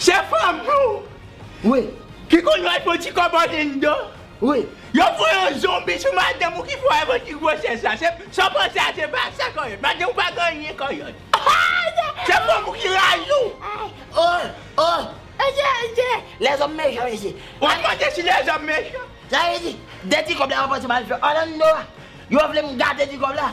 Se fanm nou Wi Ki konn wè fon ti kòb an lendo Wi Yo fè yon zonbi sou madanm ou ki fè w avè ti gwosès la se Sa w panse a se pa sa kòyòt Madanm ou pa gen anyen kòyòt Se fanm ou ki rayi w Oh oh Mesye mesye Lèzòm mechan mesye Ou ap mande si lèzòm mechan Sa vle di 2 ti kòb la yo panse m al fè Orlando a Yo vle m gate ti kòb la.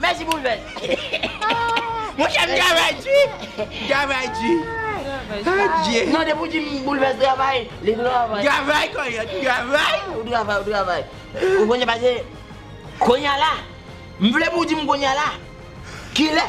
Mèsi pou vès. Monchè m travay di. M travay di. Adye. Non depi w di m pou vès travay, li travay. Travay kòlè, m travay. Ou travay, ou travay. Ou konnen pase Konya la, m vle pou w di m konya la, kilè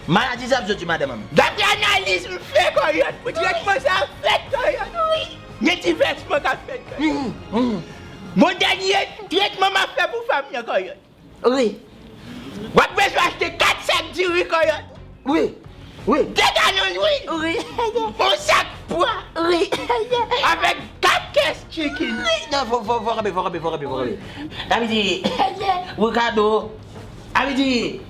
maladi sa ap soti madanm an. Daprè analiz m fè kòlè, pou tretman sa fèt kòlè. Wi. Gen ti vèsman k ap fèt kòlè. Bon dènye tretman m ap fè pou fanm nan kòlè. Wi. Wap bezwen achte 4 sak diri kòyòt. Wi. Wi. 2 galon lwil. Wi. Yon sak pwa. Wi. Avèk 4 kès chikin. Wi. Non fò fò fò kanpe fò kanpe fò kanpe fò kanpe. Sa vle di Ricardo a vle di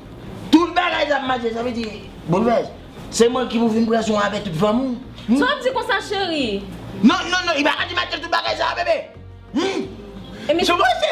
tout bagay sa ap mache sa vle di Bonivèj se mwen ki pou vin pran swen w avè tout fanmi w. Sa wap di konsa cheri. Non non non li paka di mache tout bagay sa bebe. Humm. Sou pose.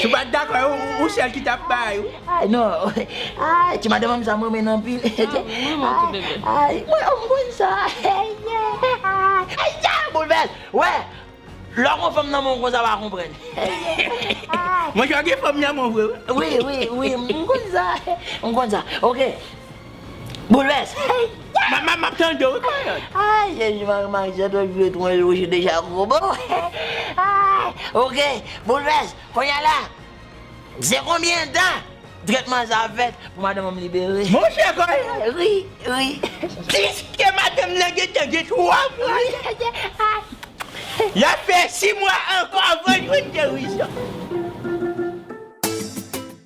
Si w pat dakò e ou sèl ki tap bay wi. Ay non ayy ti madanm sa m renmenn anpil ayy mwen oh m konn sa eyy boulvès wè lè w gon fanm nan menw konsa wa konprann eyy. Monchè w gen fanm nan menw vre wi. Wi wi wi m konn sa m konn sa ok Boules hey yeah Map tande w wi payòt. Ay jezi mwen remak zèt wè jwèt mwen yo se deja gwo bon Ay ok Boules konnya la se konbyen dan tretman sa ap fèt pou madanm an libere. Monchè konnya ri ri piske madanm nan gentan gen 3 mwa ya fè 6 mwa ankò avan jwenn gerizon.